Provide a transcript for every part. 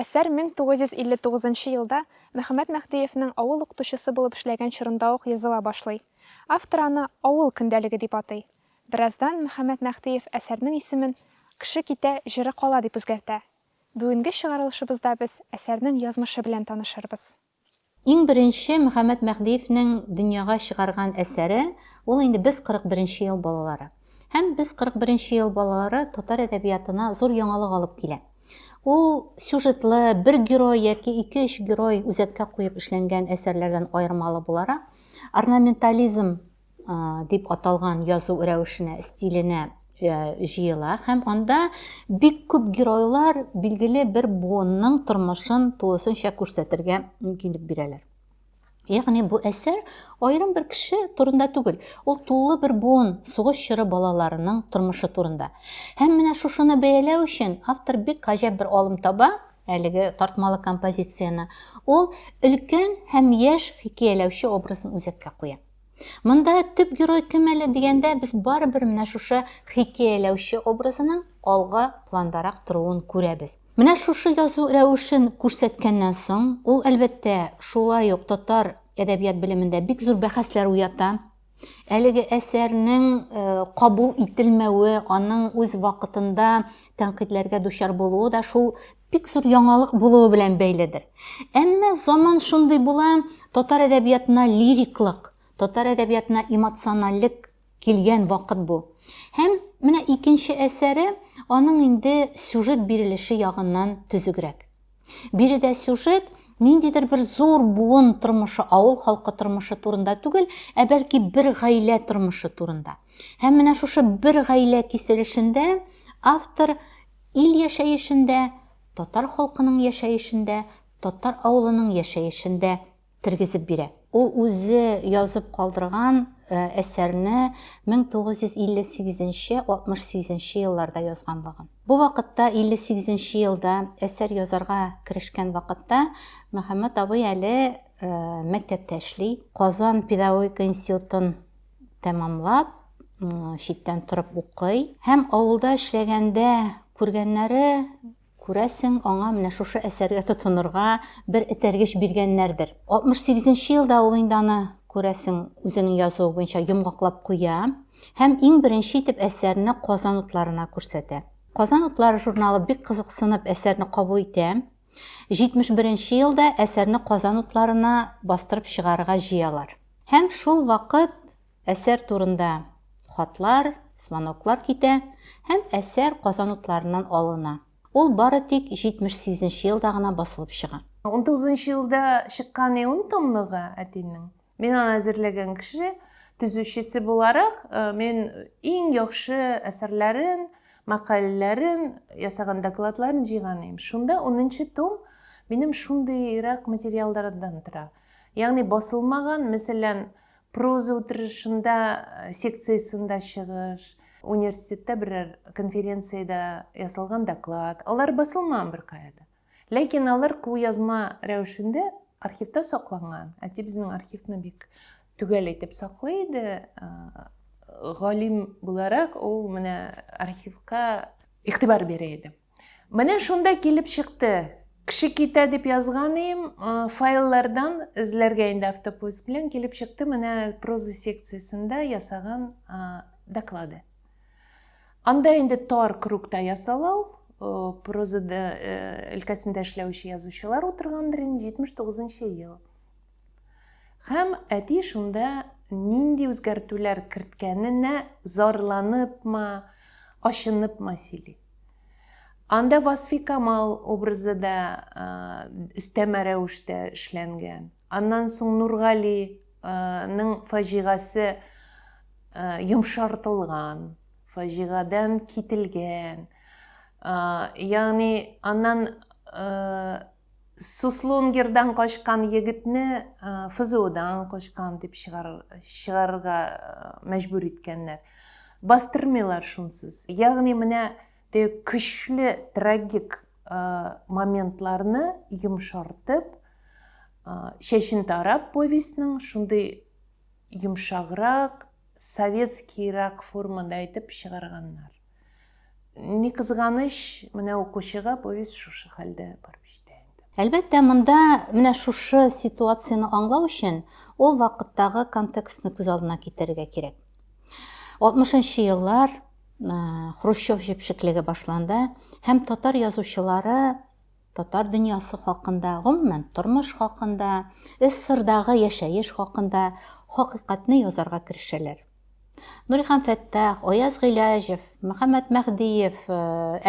Әсәр 1959 елда Мөхәммәт Мәһдиевнең авыл укытучысы булып эшләгән чорында ук языла башлый. Автор аны Авыл көндәлеге дип атый. Бераздан Мөхәммәт Мәһдиев әсәрнең исемен Кеше китә, җыры кала дип үзгәртә. Бүгенге чыгарылышыбызда без әсәрнең язмышы белән танышырбыз. Иң беренче Мөхәммәт Мәһдиевнең дөньяга чыгарган әсәре, ул инде Без 41 нче ел балалары. Һәм Без 41 нче ел балалары татар әдәбиятына зур яңалык алып килә. Ул сюжетлы, бер герой яки ике-өч герой үзәккә куеп эшләнгән әсәрләрдән аермалы буларак, орнаментализм дип аталган язу рәвешенә, стиленә җыела һәм анда бик күп геройлар билгеле бер буынның тормышын тулысынча күрсәтергә мөмкинлек бирәләр. Ягъни бу әсәр аерым бер кеше турында түгел, ул тулы бер буын сугыш чоры балаларының тормышы турында. Һәм менә шушыны бәяләү өчен автор бик гаҗәп бер алым таба, әлеге тартмалы композицияне. Ул өлкән һәм яшь хикәяләүче образын үзәккә куя. Монда төп герой кем әле дигәндә, без барыбер менә шушы хикәяләүче образының алга пландарак торуын күрәбез. Менә шушы язу рәвешен күрсәткәннән соң, ул, әлбәттә, шулай ук татар әдәбият белемендә бик зур бәхәсләр уята. Әлеге әсәрнең э, кабул ителмәве, аның үз вакытында тәнкыйтьләргә дучар булуы да шул бик зур яңалык булуы белән бәйледер. Әмма заман шундый була, татар әдәбиятына лириклык, татар әдәбиятына эмоциональлек килгән вакыт бу. Һәм менә икенче әсәре аның инде сюжет бирелеше ягыннан төзегрәк. Биредә сюжет ниндидер бер зур буын тормышы, авыл халкы тормышы турында түгел, ә бәлки бер гаилә тормышы турында. Һәм менә шушы бер гаилә киселешендә автор Ил яшәешендә, татар халкының яшәешендә, татар авылының яшәешендә тергезеп бирә. Ул үзе язып калдырган әсәрне 1958 нче, 68 нче елларда язганлыгын. Бу вакытта, 58 нче елда әсәр язарга керешкән вакытта, Мөхәммәт абый әле мәктәптә эшли, Казан педагогика институтын тәмамлап, читтән торып укый. Һәм авылда эшләгәндә күргәннәре, күрәсең, аңа менә шушы әсәргә тотынырга бер этәргеч биргәннәрдер. 68 нче елда ул инде аны, күрәсең, үзенең язуы буенча йомгаклап куя һәм иң беренче итеп әсәрне Казан утларына күрсәтә. Казан утлары журналы бик кызыксынып әсәрне кабул итә. 71 нче елда әсәрне Казан утларына бастырып чыгарырга җыялар. Һәм шул вакыт әсәр турында хатлар, смоноклар китә һәм әсәр Казан утларыннан алына. Ул бары тик 78 нче елда гына басылып чыга. 19 нчы елда чыккан иун томлыгы әтинең Мина әзерләгән кеше төзүчесе буларак, мин иң яхшы әсәрләрен, мәкаләләрен, ясаган докладларын җыйган идем. Шунда 10 том минем шундыйрак материалдардан тора. Ягъни басылмаган, мәсәлән, проза утырышында э, секциясендә чыгыш, университетта берәр конференциядә ясалган доклад, алар басылмаган беркая да. Ләкин алар кулъязма рәвешендә архивта сакланган. Әти безнең архивны бик төгәл итеп саклый иде. Галим буларак ул менә архивка игътибар бирә иде. Менә шунда килеп чыкты. Кеше китә дип язган идем, файллардан эзләргә инде автопоиск белән килеп чыкты менә проза секциясендә ясаган доклады. Анда инде тар крукта ясала ул. Проза өлкәсендә эшләүче язучылар утыргандыр инде, 79 нчы ел. Һәм әти шунда нинди үзгәртүләр керткәненә зарланыпмы, ачыныпмы сөйли. Анда Васфи Камал образы да өстәмә рәвештә эшләнгән. Аннан соң Нургали ның фаҗигасе йомшартылган, фаҗигадән кителгән, ягъни аннан Суслонгердан качкан егетне ФЗОдан качкан дип чыгарырга мәҗбүр иткәннәр. Бастырмыйлар шунсыз. Ягъни менә Те көчле трагик моментларны йомшартып, Чәчен тарап повестьның шундый йомшаграк, советскийрак формада әйтеп чыгарганнар. Ни кызганыч, менә укучыга повесть шушы хәлдә барып җитә инде. Әлбәттә, монда менә шушы ситуацияне аңлау өчен ул вакыттагы контекстны күз алдына китерергә кирәк. 60 нчы еллар, Хрущев җепшеклеге башланды һәм татар язучылары татар дөньясы хакында, гомумән, тормыш хакында, СССРдагы яшәеш хакында хакыйкатьне язарга керешәләр. Нурихан Фәттах, Аяз Гыйләҗев, Мөхәммәт Мәһдиев, э,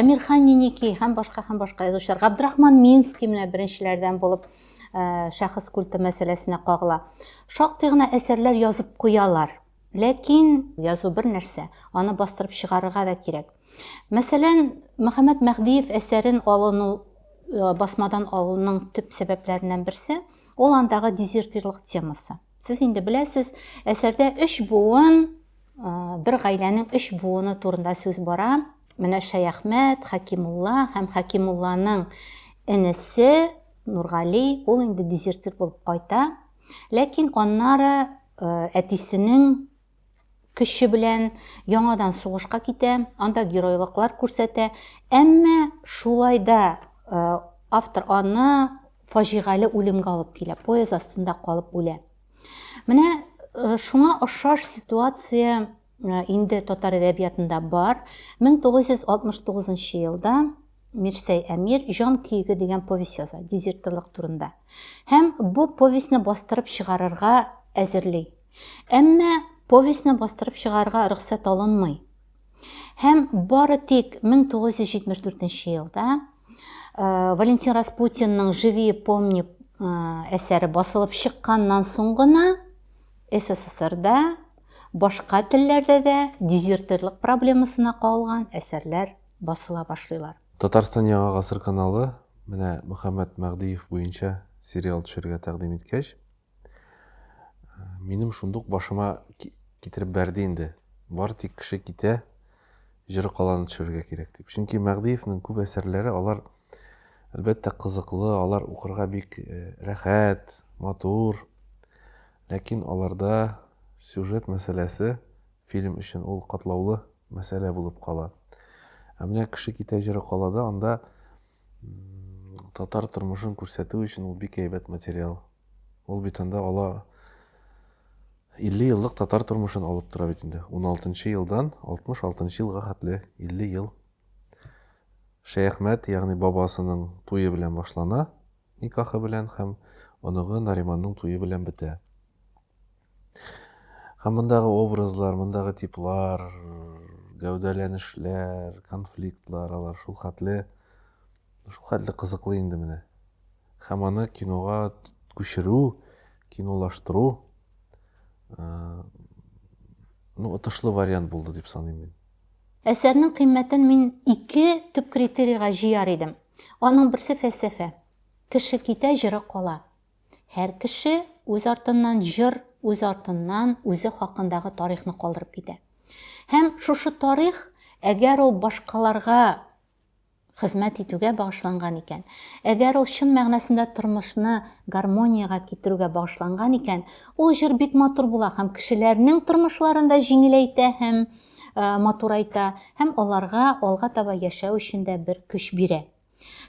Әмирхан Ниники һәм башка һәм башка язучылар, Габдрахман Минский менә беренчеләрдән булып э, шәхес культы мәсьәләсенә кагыла. Шактый гына әсәрләр язып куялар. Ләкин язу бер нәрсә, аны бастырып чыгарырга да кирәк. Мәсәлән, Мөхәммәт Мәһдиев әсәрен алыну Э, басмадан алуның төп сәбәпләреннән берсе ул андагы дезертирлык темасы сез инде беләсез әсәрдә өч буын э, бер гаиләнең өч буыны турында сүз бара менә шәяхмәт хәкимулла һәм хәкимулланың энесе нургали ул инде дезертир булып кайта ләкин аннары Әтисенең көче белән яңадан сугышка китә, анда геройлыклар күрсәтә. Әмма шулай да автор аны фаҗигале үлемгә алып килә, поезд астында калып үлә. Менә шуңа ошаш ситуация инде татар әдәбиятында бар. 1969 нчы елда Мирсәй Әмир Җан көеге дигән повесть яза, дезертирлык турында. Һәм бу повестьны бастырып чыгарырга әзерли. Әмма повестьны бастырып чыгарырга рөхсәт алынмый. Һәм бары тик 1974 елда э, Валентин Распутинның Живи помни э, әсәре басылып чыкканнан соң гына СССРда Башка телләрдә дә дезертирлык проблемасына кагылган әсәрләр басыла башлыйлар. Татарстан Яңа гасыр каналы менә Мөхәммәт Мәгъдиев буенча сериал төшерергә тәкъдим иткәч, минем шундук башыма китереп бәрде инде, бары тик кеше китә, җыры каланы төшерергә кирәк дип. Чөнки Мәгъдиевнең күп әсәрләре алар әлбәттә кызыклы, алар укырга бик рәхәт, матур. Ләкин аларда сюжет мәсьәләсе фильм өчен ул катлаулы мәсьәлә булып кала. Ә менә Кеше китә җыры калада анда татар тормышын күрсәтү өчен ул бик әйбәт материал. Ул бит анда ала 50 еллык татар тормышын алып тора бит инде. 16 елдан 66 елга хәтле 50 ел. Шәяхмәт, ягъни бабасының туе белән башлана. никахы белән һәм оныгы Нариманның туе белән бетә. Һәм мондагы образлар, мондагы типлар, гәүдәләнешләр, конфликтлар, алар шул хәтле, шул хәтле кызыклы инде менә. Һәм аны кинога күчерү, кинолаштыру, э, ну, отышлы вариант булды дип саныйм мин. Әсәрнең кыйммәтен мин ике төп критерийга җыяр идем. Аның берсе фәлсәфә. Кеше китә, җыры кала. Һәр кеше үз артыннан җыр, үз артыннан үзе хакындагы тарихны калдырып китә. Һәм шушы тарих, әгәр ул башкаларга хезмәт итүгә багышланган икән, әгәр ул чын мәгънәсендә тормышны гармониягә китерүгә багышланган икән, ул җыр бик матур була һәм кешеләрнең тормышларын да җиңеләйтә һәм матур айта һәм аларга алга таба яшәү өчен дә бер көч бирә.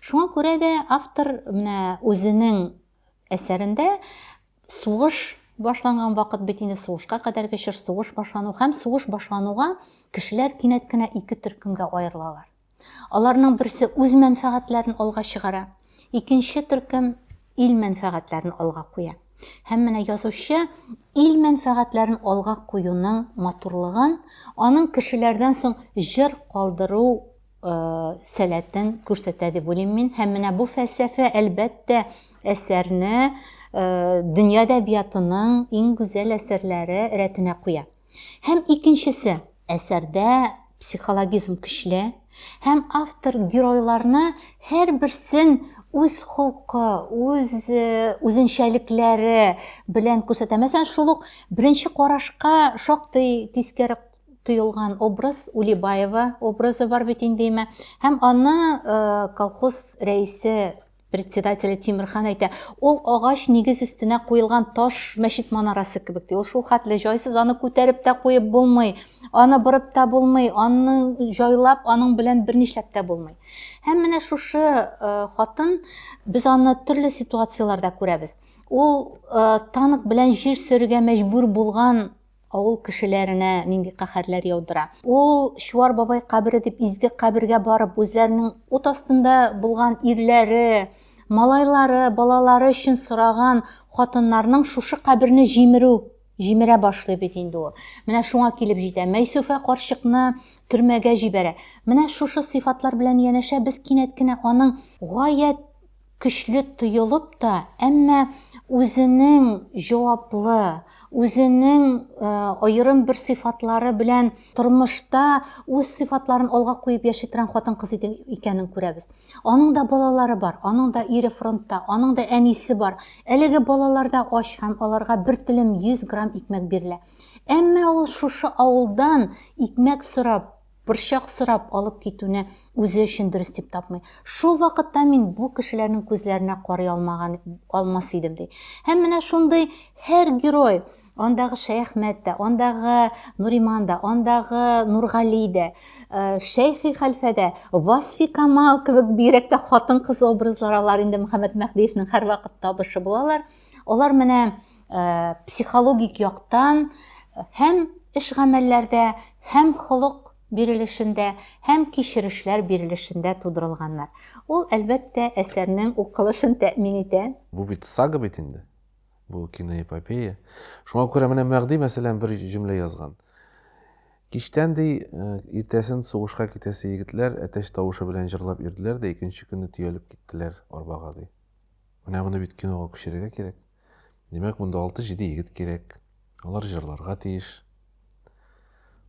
Шуңа күрә дә автор менә үзенең әсәрендә сугыш башланган вакыт бит инде, сугышка кадәрге чор, сугыш башлану һәм сугыш башлануга кешеләр кинәт кенә ике төркемгә аерылалар. Аларның берсе үз мәнфәгатьләрен алга чыгара, икенче төркем ил мәнфәгатьләрен алга куя. Һәм менә язучы ил мәнфәгатьләрен алга куюның матурлыгын, аның кешеләрдән соң җыр калдыру э, сәләтен күрсәтә дип уйлыйм мин. Һәм менә бу фәлсәфә, әлбәттә, әсәрне э, дөнья әдәбиятының иң гүзәл әсәрләре рәтенә куя. Һәм икенчесе, әсәрдә психологизм көчле һәм автор геройларны һәрберсен үз холкы, үз э, үзенчәлекләре белән күрсәтә. Мәсәлән, шул ук беренче карашка шактый тискәре тоелган образ Улибаева образы бар бит инде Һәм аны э, колхоз рәисе Председателе Тимерхан әйтә, ул агач нигез өстенә куелган таш мәчет манарасы кебек ди. Ул шул хәтле җайсыз, аны күтәреп тә куеп булмый, аны борып та булмый, аны җайлап, аның белән бернишләп тә булмый. Һәм менә шушы э, хатын, без аны төрле ситуацияләрдә күрәбез. Ул э, танк белән җир сөрергә мәҗбүр булган Авыл кешеләренә нинди каһәрләр яудыра? Ул Чуар бабай кабере дип изге кабергә барып, үзләренең ут астында булган ирләре, малайлары, балалары өчен сораган хатыннарның шушы каберне җимерү, җимерә башлый бит инде ул. Менә шуңа килеп җитә. Мәйсүфә карчыкны төрмәгә җибәрә. Менә шушы сыйфатлар белән янәшә без кинәт кенә аның гаять көчле тоелып та, әмма үзенең җаваплы, үзенең аерым бер сыйфатлары белән тормышта үз сыйфатларын алга куеп яши торган хатын-кыз икәнен күрәбез. Аның да балалары бар, аның да ире фронтта, аның да әнисе бар. Әлеге балалар да ач һәм аларга бер телем 100 грамм икмәк бирелә. Әмма ул шушы авылдан икмәк сорап борчак сорап алып китүне үзе өчен дөрес дип тапмый. Шул вакытта мин бу кешеләрнең күзләренә карый алмаган алмас идем ди. Һәм менә шундый һәр герой Андагы Шәяхмәт тә, андагы Нуриман да, андагы Нургали дә, э, Шәйхи хәлфә дә, Васфи Камал кебек бигрәк тә хатын-кыз образлары алар инде Мөхәммәт Мәһдиевнең һәрвакыт табышы булалар. Алар менә э, психологик яктан э, һәм эш гамәлләрдә, һәм холык бирелешендә һәм кичерешләр бирелешендә тудырылганнар. Ул, әлбәттә, әсәрнең укылышын тәэмин итә. Бу бит сага бит инде. Бу киноэпопея. Шуңа күрә менә Мәгъди, мәсәлән, бер җөмлә язган. Кичтән ди, э, иртәсен сугышка китәсе егетләр әтәч тавышы белән җырлап йөрделәр дә икенче көнне төялеп киттеләр арбага ди. Менә моны бит кинога күчерергә кирәк. Димәк, монда алты-җиде егет кирәк. Алар җырларга тиеш.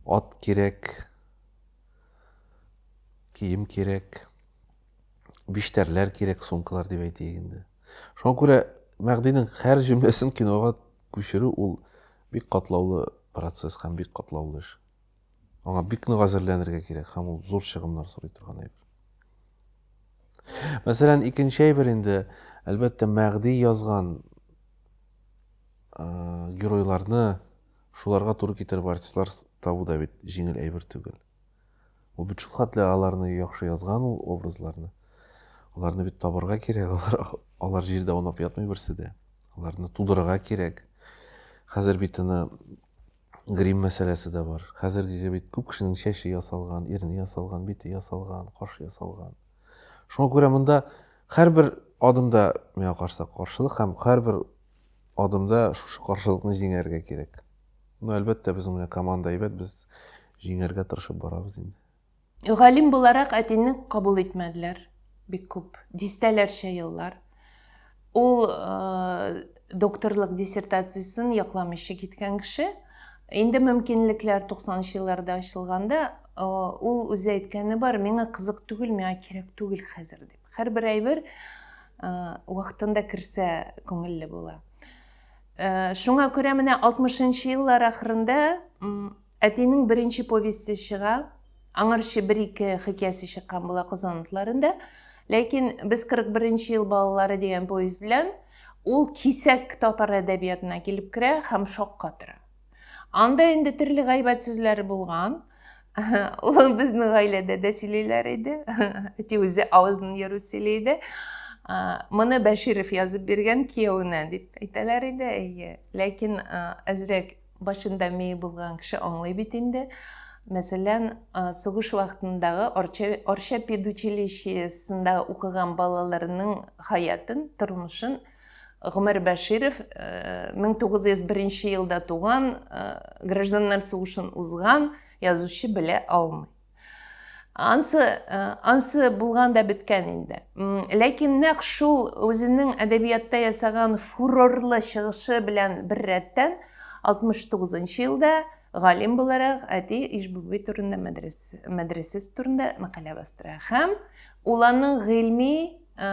Ат кирәк. Кием кирәк. Биштәрләр кирәк, сумкалар дип әйтик инде. Шуңа күрә Мәгъдинең һәр җөмләсен кинога күчерү ул бик катлаулы процесс һәм бик катлаулы эш. Аңа бик нык әзерләнергә кирәк һәм ул зур чыгымнар сорый торган әйбер. Мәсәлән, икенче әйбер инде, әлбәттә, Мәгъди язган геройларны шуларга туры китереп артистлар табу да бит җиңел әйбер түгел. Ул бит шул хәтле аларны яхшы язган ул образларны. Аларны бит табырга кирәк, алар алар җирдә аунап ятмый берсе дә. Аларны тудырырга кирәк. Хәзер бит аны Грим мәсьәләсе дә бар. Хәзерге кебек күп кешенең чәче ясалган, ирне ясалган, бите ясалган, кашы ясалган. Шуңа күрә монда һәрбер адымда миңа карса каршылык һәм һәрбер адымда шушы каршылыкны җиңәргә кирәк. Ну, әлбәттә, безнең менә команда әйбәт, без җиңәргә тырышып барабыз инде. Галим буларак әтине кабул итмәделәр бик күп, дистәләрчә еллар. Ул докторлык диссертациясен якламыйча киткән кеше. Инде мөмкинлекләр 90 елларда ачылганда, ул үзе әйткәне бар, миңа кызык түгел, миңа кирәк түгел хәзер дип. Һәрбер әйбер вакытында керсә күңелле була. Шуңа күрә менә 60 еллар ахырында Әтинең беренче повесте чыга, аңарчы бер-ике хикәясе чыккан була Казан утларында. Ләкин без 41 ел балалары дигән повесть белән ул кисәк татар әдәбиятына килеп керә һәм шокка тора. Анда инде төрле гайбәт сүзләре булган. Ул безнең гаиләдә дә сөйлиләр иде. Әти үзе авызын ерып сөйли иде. Моны Бәширов язып биргән кияүенә дип әйтәләр иде. Әйе. Ләкин әзрәк Башында мие булган кеше аңлый бит инде. Мәсәлән, сугыш вакытындагы Орча педучилищесында укыган балаларның хаятын, тормышын Гомәр Бәширов 1901 елда туган, гражданнар сугышын узган язучы белә алмый. ансы э, ансы булган да беткән инде ләкин нәкъ шул үзенең әдәбиятта ясаган фурорлы чыгышы белән бер рәттән 69 елда галим буларак әти ишбүби турында мәдрәсәс турында мәкалә бастыра һәм ул аның гыйльми э,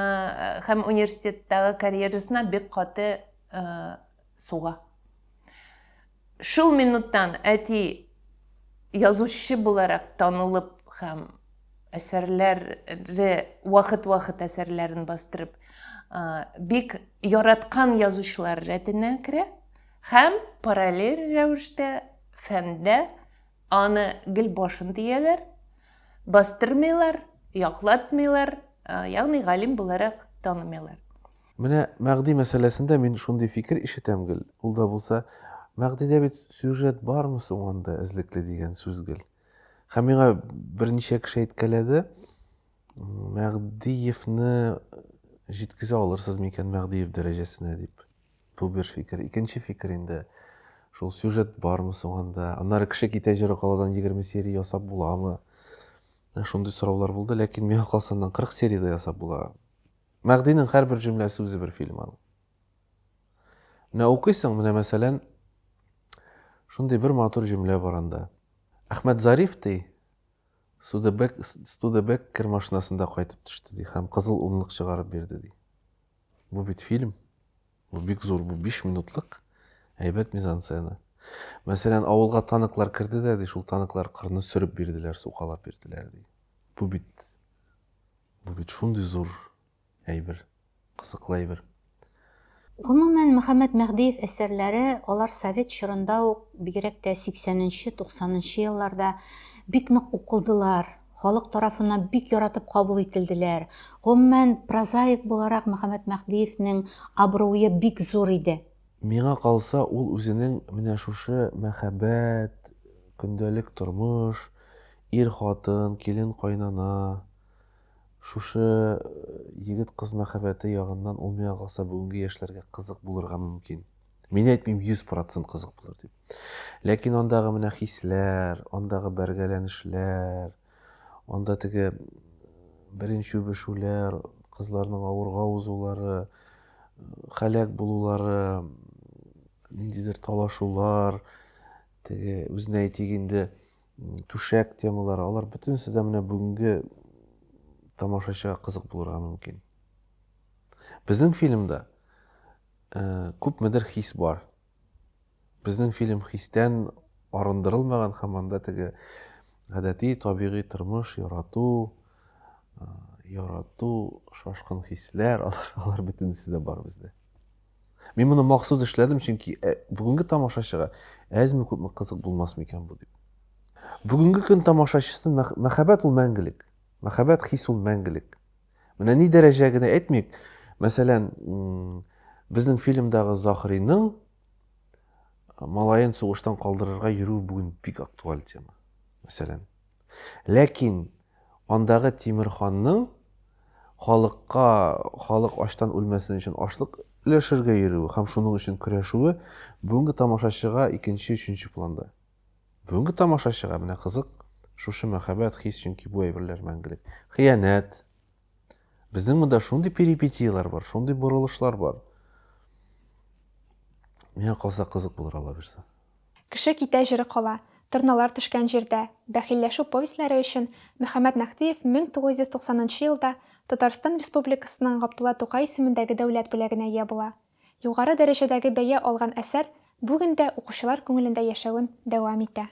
һәм университеттагы карьерасына бик каты э, суга. Шул минуттан әти язучы буларак танылып һәм әсәрләре вакыт-вакыт әсәрләрен бастырып бик яраткан язучылар рәтенә керә һәм параллель рәвештә фәндә аны гел башын дияләр, бастырмыйлар, яклатмыйлар, ягъни галим буларак танымыйлар. Менә Мәгъди мәсьәләсендә мин шундый фикер ишетәм гел, ул да булса, Мәгъдидә бит сюжет бармы соң анда эзлекле дигән сүз гел. Һәм миңа берничә кеше әйткәләде, Мәгъдиевны җиткезә алырсыз микән Мәгъдиев дәрәҗәсенә дип. Бу бер фикер. Икенче фикер инде, шул сюжет бармы соң анда? Аннары кеше китә җыры каладан 20 серия ясап буламы? Шундый сораулар булды, ләкин миңа калса аннан 40 серия дә ясап була. Мәгъдинең һәрбер җөмләсе үзе бер фильм аның. Менә укыйсың, менә мәсәлән, шундый бер матур җөмлә бар анда. Әхмәт Зариф ди, Судебек, Студебек кер машинасында кайтып төште ди һәм кызыл унлык чыгарып бирде ди. Бу бит фильм. Бу бик зур, бу 5 минутлык әйбәт мизансцена. Мәсәлән, авылга танклар керде дә ди, шул танклар кырны сөреп бирделәр, сукалап бирделәр ди. Бу бит Бу бит шундый зур әйбер, кызыклы әйбер. Гомумән, Мөхәммәт Мәһдиев әсәрләре, алар совет чорында ук, бигрәк тә 80 нче, 90 нчы елларда бик нык укылдылар, халык тарафыннан бик яратып кабул ителделәр. Гомумән, прозаик буларак Мөхәммәт Мәһдиевнең абруе бик зур иде. Миңа калса, ул үзенең менә шушы мәхәббәт, көндәлек тормыш, Ир-хатын, килен-кайнана, шушы егет-кыз мәхәббәте ягыннан ул миңа калса бүгенге яшьләргә кызык булырга мөмкин. Мин әйтмим 100 процент кызык булыр дип. Ләкин андагы менә хисләр, андагы бәргәләнешләр, анда теге беренче үбешүләр, кызларның авырга узулары, халәк булулары, ниндидер талашулар, теге үзенә әйтик инде түшәк темалары, алар бөтенесе дә менә бүгенге тамашачыга кызык булырга мөмкин. Безнең фильмда ә, күпмедер хис бар. Безнең фильм хистән арындырылмаган һәм анда теге гадәти табигый тормыш ярату, ә, ярату, шашкын хисләр, алар, алар бөтенесе дә бар бездә. Мин моны махсус эшләдем, чөнки ә, бүгенге тамашачыга әзме-күпме кызык булмас микән бу дип. Бүгенге көн тамашачысын мәхәббәт ул мәңгелек. Мәхәббәт хис ул мәңгелек. Менә ни дәрәҗә генә әйтмик, мәсәлән, безнең фильмдагы Захриның малаен сугыштан калдырырга йөрү бүген бик актуаль тема. Мәсәлән. Ләкин Андагы Тимер ханның халыкка, халык ачтан үлмәсен өчен ашлык өләшергә йөрүе һәм шуның өчен көрәшүе бүгенге тамашачыга икенче, өченче планда. Бүгенге тамашачыга менә кызык шушы мәхәббәт, хис, чөнки бу әйберләр мәңгелек. Хыянәт. Безнең монда шундый перипетияләр бар, шундый борылышлар бар. Миңа калса кызык булыр ала бирсә. Кеше китә җыры кала, Торналар төшкән җирдә, Бәхилләшү повестьләре өчен Мөхәммәт Мәһдиев 1990 нчы елда Татарстан Республикасының Габдулла Тукай исемендәге дәүләт бүләгенә ия була. Югары дәрәҗәдәге бәя алган әсәр бүген дә укучылар күңелендә яшәвен дәвам итә.